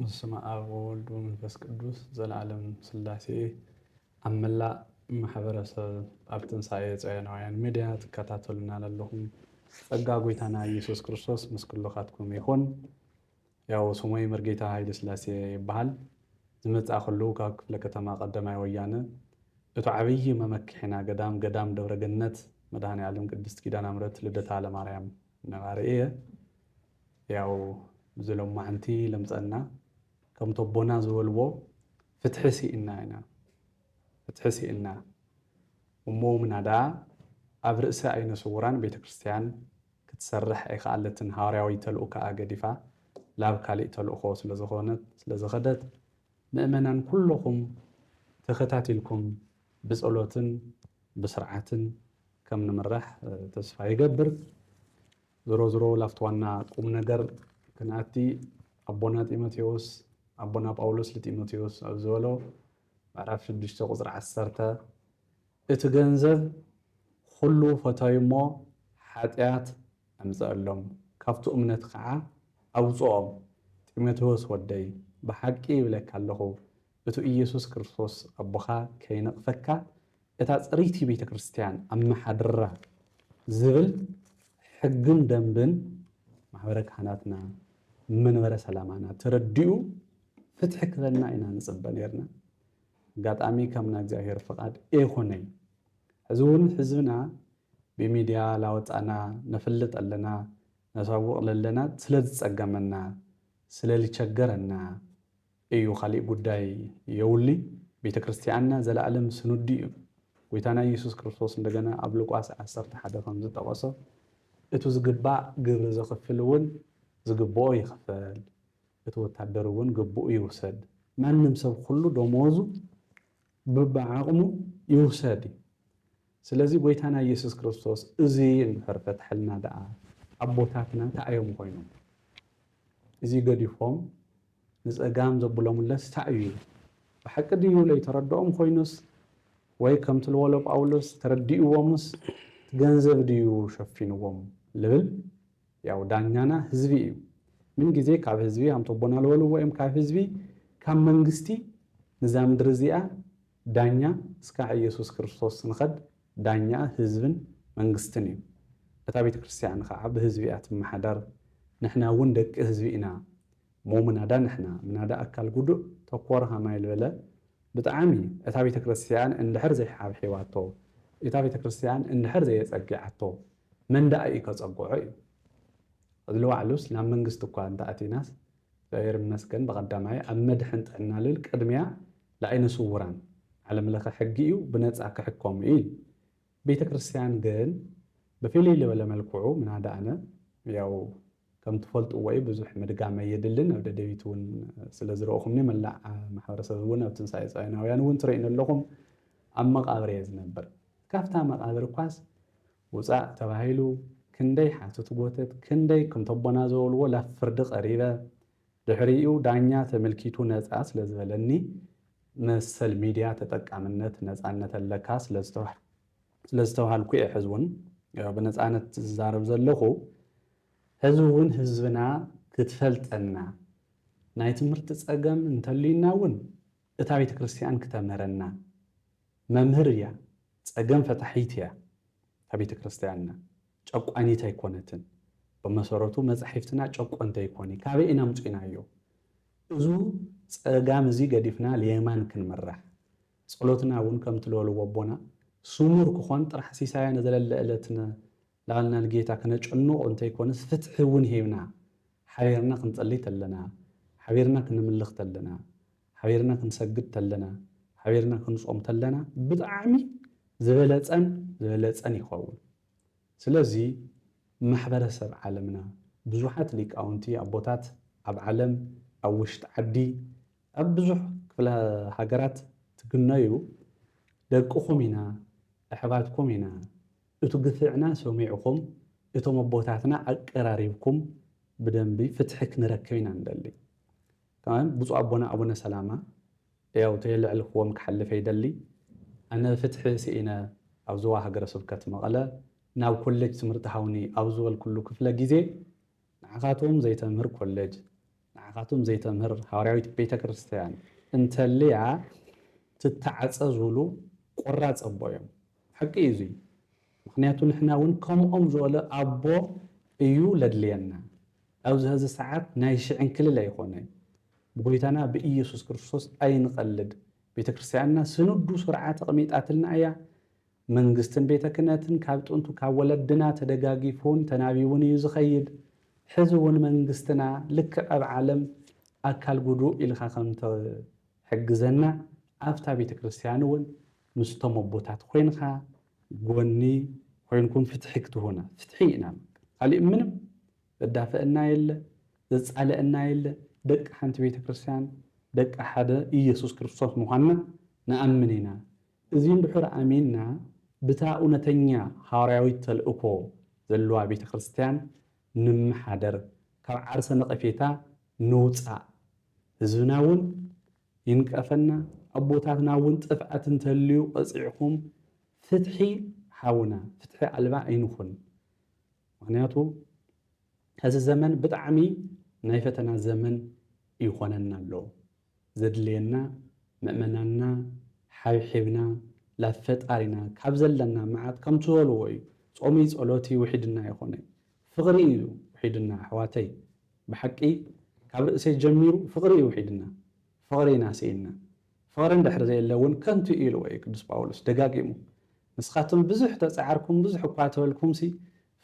በስመ ኣብ ወወልድ ወመንፈስ ቅዱስ ዘለዓለም ስላሴ ኣብ መላእ ማሕበረሰብ ኣብ ትንሳኤ ጸዮናውያን ሚድያ ትከታተሉና ለለኹም ጸጋ ጎይታና ኢየሱስ ክርስቶስ ምስ ኩልኻትኩም ይኹን። ያው ስሞይ መርጌታ ሃይለስላሴ ይበሃል። ዝመጻእክሉ ካብ ክፍለ ከተማ ቀደማይ ወያነ እቱ ዓብዪ መመክሒና ገዳም ገዳም ደብረ ገነት መድኃኔዓለም ቅድስት ኪዳናምረት ልደታ ለማርያም ነባሪ እየ። ያው እዚ ሎማዕንቲ ለምጸና ከምቲ ኣቦና ዝበልዎ ፍትሒ ሲኢንና ኢና ፍትሒ ሲኢንና እሞ ምናዳ ኣብ ርእሰ ኣይነ ስውራን ቤተክርስትያን ክትሰርሕ ኣይከኣለትን ሃዋርያዊ ተልኡካኣ ገዲፋ ላብ ካሊእ ተልእኮ ስለ ዝኮነት ስለ ዝከደት ምእመናን ኩሎኩም ተከታቲልኩም ብጸሎትን ብስርዓትን ከም ንምራሕ ተስፋ ይገብር ዝሮ ዝሮ ላፍቲ ዋና ቁም ነገር ክንኣቲ ኣቦና ጢሞቴዎስ ኣቦና ጳውሎስ ልጢሞቴዎስ ኣብ ዝበሎ ምዕራፍ ሽዱሽተ ቁጽሪ ዓሰርተ እቲ ገንዘብ ኹሉ ፈታዩ እሞ ሓጥያት ኣምጸኣሎም ካብቱ እምነት ኸዓ ኣውጽኦም ጢሞቴዎስ ወደይ ብሓቂ ይብለካ ኣለኹ እቱ ኢየሱስ ክርስቶስ ኣቦኻ ከይነቅፈካ እታ ጽሪቲ ቤተ ክርስትያን ኣመሓድራ ዝብል ሕግን ደንብን ማሕበረ ካህናትና መንበረ ሰላማና ተረዲኡ ፍትሒ ክበና ኢና ንጽበ ኔርና ኣጋጣሚ ከም ናይ እግዚኣብሔር ፍቃድ ኤይኮነይ ሕዚ እውን ሕዝብና ብሚድያ ላወፃእና ነፍልጥ ኣለና ነሳውቅ ለለና ስለ ዝፀገመና ስለ ልቸገረና እዩ ካሊእ ጉዳይ የውልይ ቤተክርስትያኣና ዘላኣለም ስኑዲ እዩ ጎይታና ኢየሱስ ክርስቶስ እንደገና ኣብ ሉቃስ ዓሰርተ ሓደ ከም ዝጠቀሶ እቱ ዝግባእ ግብሪ ዘክፍል እውን ዝግብኦ ይክፈል እቲ ወታደር እውን ግቡኡ ይውሰድ። ማንም ሰብ ኹሉ ደመወዙ ብብዓቕሙ ይውሰድ እዩ። ስለዚ ጎይታና ኢየሱስ ክርስቶስ እዚ እንድሕር ፈትሐልና ደኣ ኣቦታትና ታይ ኣዮም ኾይኖም? እዚ ገዲፎም ንፀጋም ዘብሎምለስ ታይ እዩ? ብሓቂ ድዩ ለይተረደኦም ኾይኑስ ወይ ከምቲ ልወሎ ጳውሎስ ተረዲእዎምስ እቲ ገንዘብ ድዩ ሸፊንዎም ልብል? ያው ዳኛና ህዝቢ እዩ ምን ግዜ ካብ ህዝቢ ኣንቶቦና ልበልዎ እዮም ካብ ህዝቢ ካብ መንግስቲ ንዛ ምድሪ እዚኣ ዳኛ እስካዕ እየሱስ ክርስቶስ ንኸድ ዳኛኣ ህዝብን መንግስትን እዩ እታ ቤተክርስትያን ኸዓ ብህዝቢ እያ ትመሓደር ንሕና እውን ደቂ ህዝቢ ኢና እሞ ምናዳ ንሕና ምናዳ ኣካል ጉዱእ ተኮር ሃማይ ልበለ ብጣዕሚ እታ ቤተክርስትያን እንድሕር ዘይሓብሒባቶ እታ ቤተክርስትያን እንድሕር ዘየፀጊዓቶ መን ደኣ ኢዩ ከጸግዖ ኢዩ ዕድል ዋዕሉስ ናብ መንግስቲ እኳ እንተ ኣቲናስ እግዝኣብሄር ይመስገን ብቀዳማይ ኣብ መድሕን ጥዕና ልብል ቅድሚያ ልኣይነ ስውራን ዓለም ለኸ ሕጊ ኢዩ ብነጻ ክሕከሙ ኢዩ ኢሉ ቤተ ክርስትያን ግን ብፊልይ ልበለ መልክዑ ምናዳ ኣነ ያው ከም ትፈልጥዎ እዩ ብዙሕ ምድጋም ኣየድልን ኣብ ደደቢት እውን ስለ ዝረእኹምኒ መላእ ማሕበረሰብ እውን ኣብ ትንሳኤ ጻዮናውያን እውን ትርእዩኒ ኣለኹም ኣብ መቓብር እየ ዝነብር ካብታ መቓብር እኳስ ውጻእ ተባሂሉ ክንደይ ሓቱት ጎተት ክንደይ ክንተቦና ዘበልዎ ላፍ ፍርዲ ቀሪበ ድሕሪኡ ዳኛ ተመልኪቱ ነጻ ስለ ዝበለኒ መሰል ሚድያ ተጠቃምነት ነጻነት ኣለካ ስለ ዝተዋህ ስለ ዝተብሃልኩ እየ ሕዚ ውን ብነፃነት ዝዛረብ ዘለኹ። ሕዚ ውን ህዝብና ክትፈልጠና ናይ ትምህርቲ ፀገም እንተልዩና ውን እታ ቤተ ክርስትያን ክተምህረና መምህር እያ ፀገም ፈታሒት እያ እታ ቤተ ክርስትያንና ጨቋኒት ኣይኮነትን ብመሰረቱ መፃሒፍትና ጨቆንቲ ኣይኮኒ ካበይ ኢና ኣምፂእናዮ እዙ ፀጋም እዙይ ገዲፍና ልየማን ክንምራሕ ጸሎትና እውን ከምቲ ለወልዎ ኣቦና ሱሙር ክኾን ጥራሕ ሲሳያ ነዘለለ እለት ን ላልና ንጌታ ክነጨንቆ እንተይኮነስ ፍትሒ እውን ሂብና ሓቢርና ክንጸልይ ተለና ሓቢርና ክንምልኽ ተለና ሓቢርና ክንሰግድ ተለና ሓቢርና ክንጾም ተለና ብጣዕሚ ዝበለጸን ዝበለጸን ይኸውን ስለዚ ማሕበረ ሰብ ዓለምና ብዙሓት ሊቃውንቲ ኣቦታት ኣብ ዓለም ኣብ ውሽጢ ዓዲ ኣብ ብዙሕ ክፍለ ሃገራት ትግነዩ ደቅኹም ኢና ኣሕባትኩም ኢና እቱ ግፍዕና ሰሚዕኹም እቶም ኣቦታትና ኣቀራሪብኩም ብደንቢ ፍትሒ ክንረክብ ኢና ንደሊ ከም ብፁዕ ኣቦና ኣቡነ ሰላማ ያው ተየለዕልክዎም ክሓልፍ ኣይደሊ ኣነ ፍትሒ ስኢነ ኣብ ዞባ ሃገረ ስብከት መቐለ ናብ ኮሌጅ ትምህርቲ ሃውኒ ኣብ ዝበልኩሉ ክፍለ ግዜ ንዓኻትኩም ዘይተምህር ኮሌጅ ንዓኻትኩም ዘይተምህር ሃዋርያዊት ቤተ ክርስቲያን እንተልያ ትተዓጸዙሉ ቆራጽ ኣቦ እዮም። ሓቂ እዩ እዙይ ምኽንያቱ ንሕና እውን ከምኦም ዝበለ ኣቦ እዩ ለድልየና። ኣብዚ ሀዚ ሰዓት ናይ ሽዕንክልል ኣይኾነ ብጎይታና ብኢየሱስ ክርስቶስ ኣይንቐልድ ቤተ ክርስቲያንና ስንዱ ስርዓት ኣቕሚጣትልና እያ። መንግስትን ቤተ ክነትን ካብ ጥንቱ ካብ ወለድና ተደጋጊፉን ተናቢቡን እዩ ዝኸይድ። ሕዚ እውን መንግስትና ልክዕ ኣብ ዓለም ኣካል ጉዱእ ኢልካ ከም እትሕግዘና ኣብታ ቤተ ክርስቲያን እውን ምስቶም ኣቦታት ኮይንካ ጎኒ ኮይንኩም ፍትሒ ክትሁና ፍትሒ ኢና ንብል ካሊእ ምንም ዘዳፍእና የለ ዘፃልእና የለ ደቂ ሓንቲ ቤተ ክርስቲያን ደቂ ሓደ ኢየሱስ ክርስቶስ ምዃንና ንኣምን ኢና እዚ እንድሑር ኣሚንና ብታ እውነተኛ ሃዋርያዊት ተልእኮ ዘለዋ ቤተ ክርስቲያን ንመሓደር ካብ ዓርሰ ነቐፌታ ንውጻእ ህዝብና እውን ይንቀፈና ኣቦታትና እውን ጥፍኣት እንተልዩ ቐጺዕኹም ፍትሒ ሃቡና ፍትሒ ኣልባ ኣይንኹን ምኽንያቱ ሀዚ ዘመን ብጣዕሚ ናይ ፈተና ዘመን ይኾነና ኣሎ። ዘድልየና ምእመናንና ሓብሒብና ላብ ፈጣሪና ካብ ዘለና መዓት ከምቲ በልዎ እዩ ጾምይ ጸሎትይ ውሒድና ኣይኾነይ ፍቅሪ እዩ ውሒድና ኣሕዋተይ ብሓቂ ካብ ርእሰይ ጀሚሩ ፍቅሪ እዩ ውሒድና ፍቅሪ ኢና ስኢንና ፍቅሪ እንድሕር ዘየለ እውን ከንቱ እዩ ኢልዎ እዩ ቅዱስ ጳውሎስ ደጋጊሙ ንስኻትም ብዙሕ ተጻዕርኩም ብዙሕ እኳ ተበልኩምሲ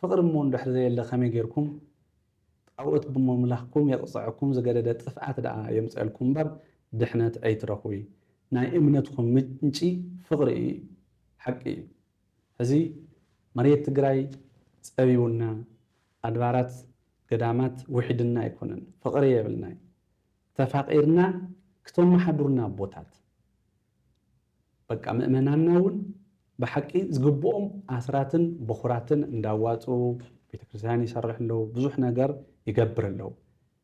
ፍቅሪ እሞ እንድሕር ዘየለ ከመይ ጌርኩም ጣኦት ብሞምላኽኩም የቅጸዐኩም ዝገደደ ጥፍኣት ደኣ የምጸእልኩም እምበር ድሕነት ኣይትረኽቡይ ናይ እምነትኹም ምንጪ ፍቅሪ እዩ ሓቂ እዩ ሕዚ መሬት ትግራይ ጸቢቡና ኣድባራት ገዳማት ውሒድና ኣይኮነን ፍቅሪ የብልናይ ተፋቂርና ክተማሓዱርና ኣቦታት በቃ ምእመናንና እውን ብሓቂ ዝግብኦም ኣስራትን በኹራትን እንዳዋጽኡ ቤተክርስትያን ይሰርሑ ኣለዉ፣ ብዙሕ ነገር ይገብር ኣለዉ።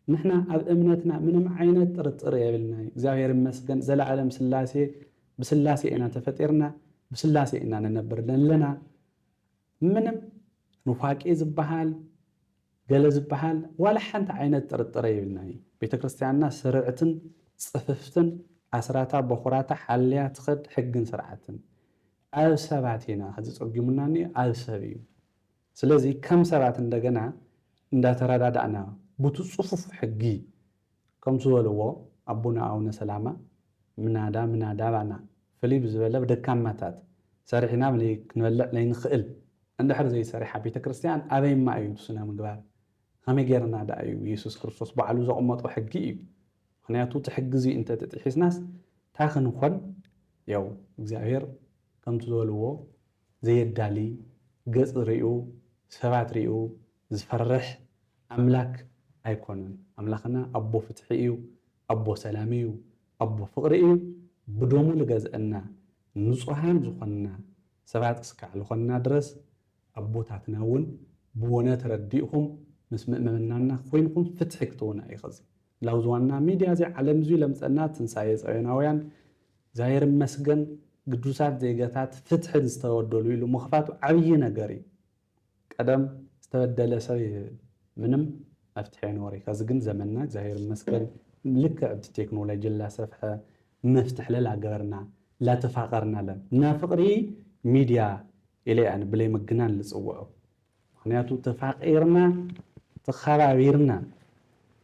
ንሕና ኣብ እምነትና ምንም ዓይነት ጥርጥር የብልናይ እግዚኣብሔር ይመስገን ዘለዓለም ስላሴ ብስላሴ ኢና ተፈጢርና ብስላሴ ኢና ንነብር ለለና። ምንም ኑፋቄ ዝባሃል ገለ ዝባሃል ዋላ ሓንቲ ዓይነት ጥርጥረ የብልናን እዩ። ቤተክርስትያንና ስርዕትን ጽፍፍትን ኣስራታ በኹራታ ሓልያ ትኸድ ሕግን ስርዓትን። ኣብ ሰባት ኢና ሕዚ ጸጊሙና እንኦ ኣብ ሰብ እዩ። ስለዚ ከም ሰባት እንደገና እንዳተረዳዳእና ቡቲ ጽፉፍ ሕጊ፣ ከም ዝበልዎ ኣቡነ ኣውነ ሰላማ ምናዳ ምናዳ ባና ፍልይ ብዝበለ ብደካማታት ሰሪሕና ክንበልዕ ለይንክእል እንድሕር ዘይሰሪሓ ቤተ ክርስቲያን ኣበይማ እዩ እቲ ስነ ምግባር ከመይ ገይርና ድኣ እዩ የሱስ ክርስቶስ ባዕሉ ዘቅመጦ ሕጊ እዩ ምክንያቱ እቲ ሕጊ እዚ እንተ ጥሒስናስ ታይ ክንኮን ያው እግዚኣብሔር ከምቲ ዝበልዎ ዘየዳሊ ገፅ ሪኡ ሰባት ሪኡ ዝፈርሕ ኣምላክ ኣይኮነን ኣምላክና ኣቦ ፍትሒ እዩ ኣቦ ሰላም እዩ ኣቦ ፍቅሪ እዩ ብደሙ ልገዝእና ንጹሃን ዝኮንና ሰባት እስካዕ ልኮንና ድረስ ኣቦታትና እውን ብወነ ተረዲእኩም ምስ ምእመምናና ኮይንኩም ፍትሒ ክትውን ኣይክዝ ላውዝ ዋና ሚድያ እዚ ዓለም እዙይ ለምጸና ትንሳኤ ጸዮናውያን እግዚኣብሔር ይመስገን ግዱሳት ዜገታት ፍትሕን ዝተወደሉ ኢሉ ምክፋቱ ዓብይ ነገር እዩ ቀደም ዝተበደለ ሰብ ምንም መፍትሒ ኣይነበሮይ ከዚ ግን ዘመንና እግዚኣብሔር ይመስገን ልክዕ ኣብቲ ቴክኖሎጂ ላሰፍሐ መፍትሒ ለላገበርና ላተፋቀርና ኣለን እና ፍቅሪ ሚድያ ኢለ እየ ኣነ ብለይ ምግናን ልፅውዖ ምክንያቱ ተፋቂርና ተከባቢርና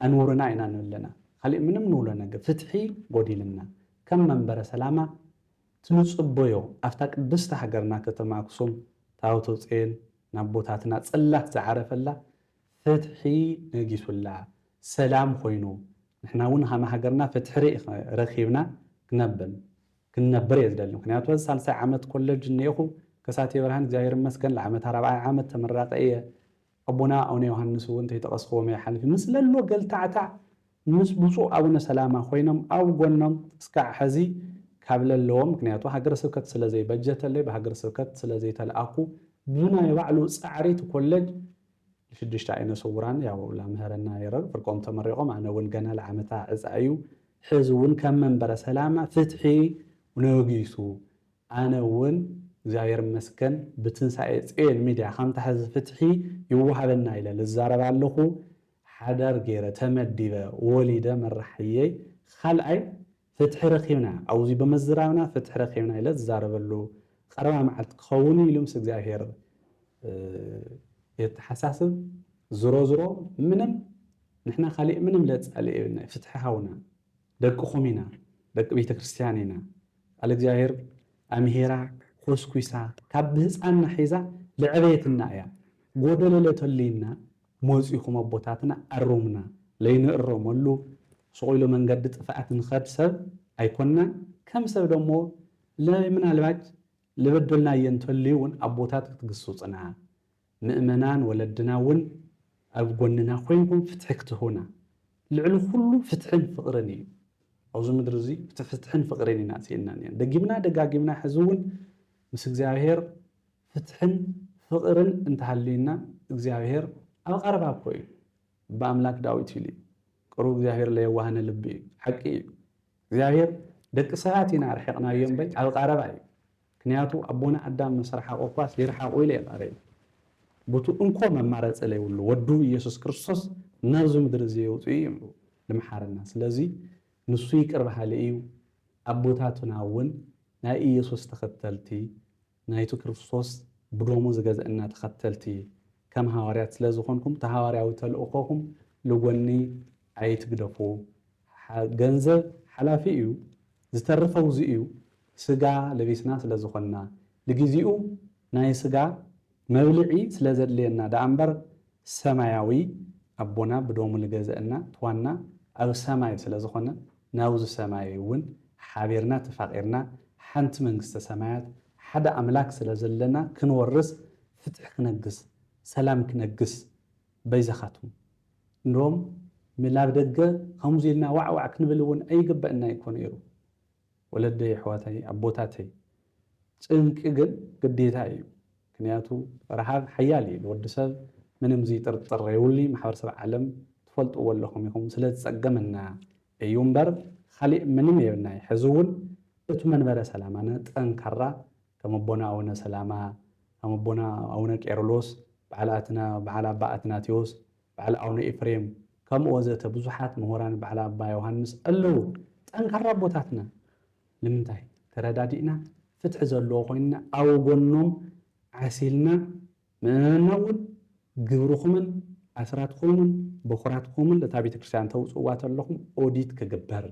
ኣንውርና ኢና ንብለና ካሊእ ምንም ንብሎ ነገር ፍትሒ ጎዲልና ከም መንበረ ሰላማ እቲ ንጽበዮ ኣብታ ቅድስቲ ሃገርና ከተማ ኣክሱም ታቦተ ጽዮን ናቦታትና ጽላት ዝዓረፈላ ፍትሒ ነጊሱላ ሰላም ኮይኑ ንሕና ውን ሃም ሃገርና ፍትሕሪ ረኪብና ክነብን ክንነብር እየ ዝደሊ ምክንያቱ ሀዚ ሳልሳይ ዓመት ኮለጅ እነኤኩ ከሳቴ ብርሃን እግዚኣብሔር ይመስገን ለዓመታ ራብዓይ ዓመት ተመራቂ እየ ኣቦና ኣውነ ዮሃንስ ውን ተይጠቀስክዎም ኣይሓልፍን ምስለሎ ገልታዕታዕ ምስ ብፁዕ ኣቡነ ሰላማ ኮይኖም ኣብ ጎኖም እስካዕ ሐዚ ካብ ለለዎ ምክንያቱ ሃገረ ስብከት ስለ ዘይበጀተለይ ብሃገረ ስብከት ስለ ዘይተለኣኩ ብናይ ባዕሉ ፃዕሪ እቲ ኮለጅ ንሽዱሽተ ኣይነ ስውራን ያው ላምህረና የረር ፍርቆም ተመሪቆም ኣነ እውን ገና ልዓመታ ዕፃ እዩ ሐዚ እውን ከም መንበረ ሰላማ ፍትሒ ነጊሱ ኣነ እውን እግዚኣብሔር ይመስገን ብትንሳኤ ፅዮን ሚድያ ከምታ ሐዚ ፍትሒ ይወሃበና ኢለ ልዛረብ ኣለኩ ሓዳር ገይረ ተመዲበ ወሊደ መራሒየይ ኻልኣይ ፍትሒ ረኺብና ኣውዚ ብምዝራብና ፍትሒ ረኺብና ኢለ ዝዛረበሉ ቐረባ መዓልቲ ክኸውንዩ ኢሉ ምስ እግዚኣብሔር የተሓሳስብ ዝሮዝሮ ምንም ንሕና ካሊእ ምንም ለፃልእ የብልናዩ ፍትሒ ሃውና ደቅኹም ኢና ደቂ ቤተክርስትያን ኢና ቃል እግዚኣብሔር ኣምሂራ ኮስኲሳ ካብ ብህፃንና ሒዛ ለዐበየትና እያ ጎደሎ ለተልዩና ሞጺኹም ኣቦታትና ኣሩሙና ለይንእረመሉ ሱቕ ኢሉ መንገዲ ጥፍኣት ንኸድ ሰብ ኣይኮናን ከም ሰብ ደሞ ለምናልባች ልበደልናዬ እንተልዩ እውን ኣቦታት ክትግሱጽና ምእመናን ወለድና እውን ኣብ ጎንና ኮይንኩም ፍትሒ ክትህቡና ልዕሊ ኩሉ ፍትሕን ፍቕርን እዩ ኣብዚ ምድሪ እዚ ፍትሕን ፍቕሪን ኢና ስኢንና ኔና ደጊምና ደጋጊምና ሕዚ እውን ምስ እግዚኣብሔር ፍትሕን ፍቅርን እንተሃልዩና እግዚኣብሔር ኣብ ቀረባ እኮ እዩ ብኣምላክ ዳዊት ይሉ እዩ ቅሩብ እግዚኣብሔር ለየዋሃነ ልቢ እዩ ሓቂ እዩ እግዚኣብሔር ደቂ ሰባት ኢና ኣርሒቅናዮ እምበይ ኣብ ቃረባ እዩ ክንያቱ ኣቦና ኣዳም ምስ ረሓቁ እኳስ ይርሓቁ ኢለ የቃረዩ ቡቱ እንኮ መማረፂ ለይብሉ ወዱ ኢየሱስ ክርስቶስ ናብዚ ምድሪ እዚ የውፅኡ እዩ እምብኡ ልምሓረና ስለዙይ ንሱ ይቅር በሃሊ እዩ ኣቦታቱና እውን ናይ ኢየሱስ ተከተልቲ ናይቱ ክርስቶስ ብደሙ ዝገዘእና ተኸተልቲ ከም ሃዋርያት ስለ ዝኾንኩም እቲ ሃዋርያዊ ተልእኾኹም ልጎኒ ኣይትግደፉ ገንዘብ ሓላፊ እዩ ዝተርፍ ኣውዚ እዩ ስጋ ለቢስና ስለ ዝኾንና ልጊዚኡ ናይ ስጋ መብልዒ ስለ ዘድልየና ደኣ እምበር ሰማያዊ ኣቦና ብደሙ ልገዘእና ትዋና ኣብ ሰማይ ስለ ዝኾነ ናብዙ ሰማይ እውን ሓቢርና ተፋቂርና ሓንቲ መንግስተ ሰማያት ሓደ ኣምላክ ስለ ዘለና ክንወርስ ፍትሒ ክነግስ ሰላም ክነግስ በይዛኻትኩም እንዶም ምላብ ደገ ኸምዙይ ኢልና ዋዕዋዕ ክንብል እውን ኣይግበእና ይኮ ነይሩ። ወለደይ ኣሕዋተይ ኣቦታተይ ጭንቂ ግን ግዴታ ኢዩ ክንያቱ ራሃብ ሓያል ኢዩ ንወዲ ሰብ ምንም ዝይጥርጥር የውሊ ማሕበርሰብ ዓለም ትፈልጥዎ ኣለኹም ኢኹም ስለ ዝጸገመና ኢዩ እምበር ኻሊእ ምንም የብልናይ ሕዚ ውን እቱ መንበረ ሰላማና ጠንካራ ከም ኣቦና ኣውነ ሰላማ ከም ኣቦና ኣውነ ቄርሎስ ባዓል ኣትና ባዓል ኣባ ኣትናቴዎስ በዓል ኣውነ ኤፍሬም ከምኡ ወዘተ ብዙሓት ምሁራን በዓል ኣባ ዮሃንስ ኣለው ጠንካራ ኣቦታትና ንምንታይ ተረዳዲእና ፍትሒ ዘለዎ ኮይንና ኣው ጎኖም ዓሲልና ምእመንና እውን ግብርኹምን ኣስራትኹምን በኹራትኹምን እታ ቤተክርስትያን ተውፅእዋ ተለኹም ኦዲት ክግበር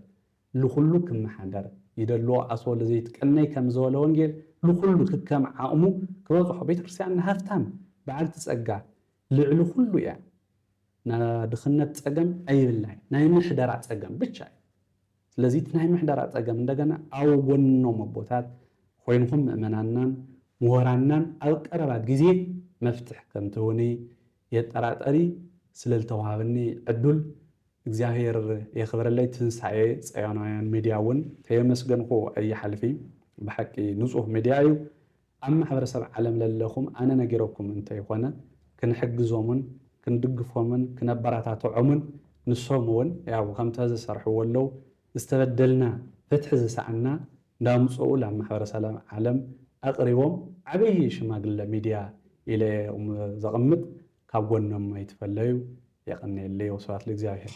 ልኹሉ ክመሓደር ይደልዎ ኣስወ ለዘይትቀነይ ከም ዘወለ ወንጌል ልኹሉ ክከም ዓቕሙ ክበፅሖ ቤተክርስትያንና ሃፍታም በዓልቲ ፀጋ ልዕሊ ኩሉ እያ ናድኽነት ፀገም ኣይብልናይ ናይ ምሕደራ ፀገም ብቻ እዩ ስለዚ እቲ ናይ ምሕደራ ፀገም እንደገና ኣብ ጎኖም ኣቦታት ኾይንኹም ምእመናናን ምሁራናን ኣብ ቀረባ ግዜ መፍትሕ ከምትህቡኒ የጠራጠሪ ስለልተዋሃበኒ ዕዱል እግዚኣብሔር የኽብረለይ ትንሳኤ ጸዮናውያን ሚድያ እውን ተየመስገንኹ ኣይሓልፊ ብሓቂ ንፁህ ሚድያ እዩ ኣብ ማሕበረሰብ ዓለም ለለኹም ኣነ ነጊረኩም እንተይኾነ ክንሕግዞምን ክንድግፎምን ክነበራታትዖምን ንሶም እውን ያው ከምታ ዝሰርሕዎ ኣለው ዝተበደልና ፍትሒ ዝሰኣና እንዳምፀኡ ላብ ማሕበረሰብ ዓለም ኣቅሪቦም ዓብይ ሽማግለ ሚድያ ኢለ እየ እም ዘቅምጥ ካብ ጎኖም ኣይትፈለዩ የቀንየለይ ወስብሃት ልእግዚኣብሔር።